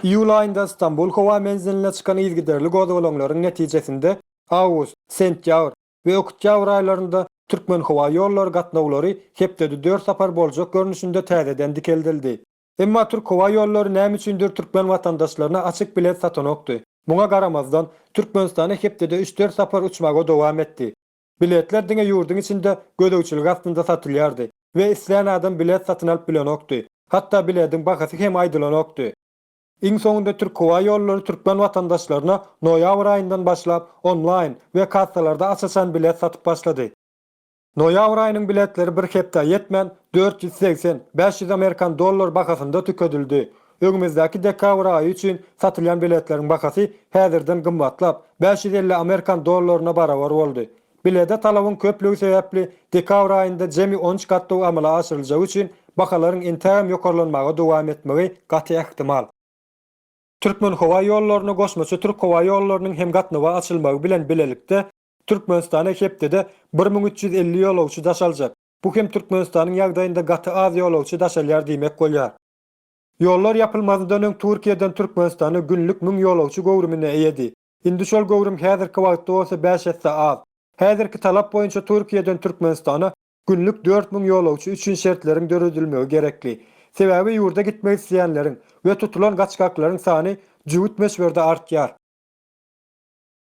Iýul aýynda Stambul howa menziline çykan yzygiderli gozgalaňlaryň netijesinde awgust, sentýabr we oktýabr aýlarynda Türkmenhowaýollary gatnawlary hepdede dört sapar boljak görnüşinde täzeden dikeldildi. Emma Türk howa ýollary näme üçindir türkmen watandaşlaryna açyk bilet satanokdy. Muňa garamazdan, Türkmenistana hepdede üç-dört sapar uçmagy dowam etdi. Biletler diňe ýurduň içinde gözegçilik astynda satylýardy we islän adam bilet satyn alyp bilenokdy, hatda bilediň bahasy hem aýdylanokdy. Iň soňunda Türk howa ýollary türkmen watandaşlaryna noýabr aýyndan başlap onlaýn we kassalarda aç-açan bilet satyp başlady. Noýabr aýynyň biletleri bir hepdä ýetmän, dört ýüz segsen, bäş ýüz amerikan dollar bahasynda tükedildi. Öňümizdäki dekabr aýy üçin satylýan biletleriň bahasy häzirden gymmatlap, bäş ýüz elli amerikan dollaryna barabar boldy. Bilede talabyň köplügi sebäpli, dekabr aýynda jemi on üç gatnaw amala aşyryljagy üçin bahalaryň entägem ýokarlanmaga dowam etmegi gaty ähtimal. Türkmenhowaýollaryna goşmaça Türkhowaýollarynyň hem gatnawa açylmagy bilen bilelikde, Türkmenistana hepdede bir müň üç ýüz elli ýolagçy daş aljak. Bu hem Türkmenistanyň ýagdaýynda gaty az ýolagçy daş alýar diýmek bolýar. Ýollar ýapylmazyndan öň Türkiýeden Türkmenistana günlük müň ýolagçy göwrümine eýedi. Indi şol göwrüm häzirki wagtda bolsa bäş esse az. Häzirki talap boýunça Türkiýeden Türkmenistana günlük dört müň ýolagçy üçin şertleriň döredilmegi gerekli. Sebäbi ýurda gitmek isleýänleriň we tutulan gaçgaklaryň sany jübüt möçberde artýar.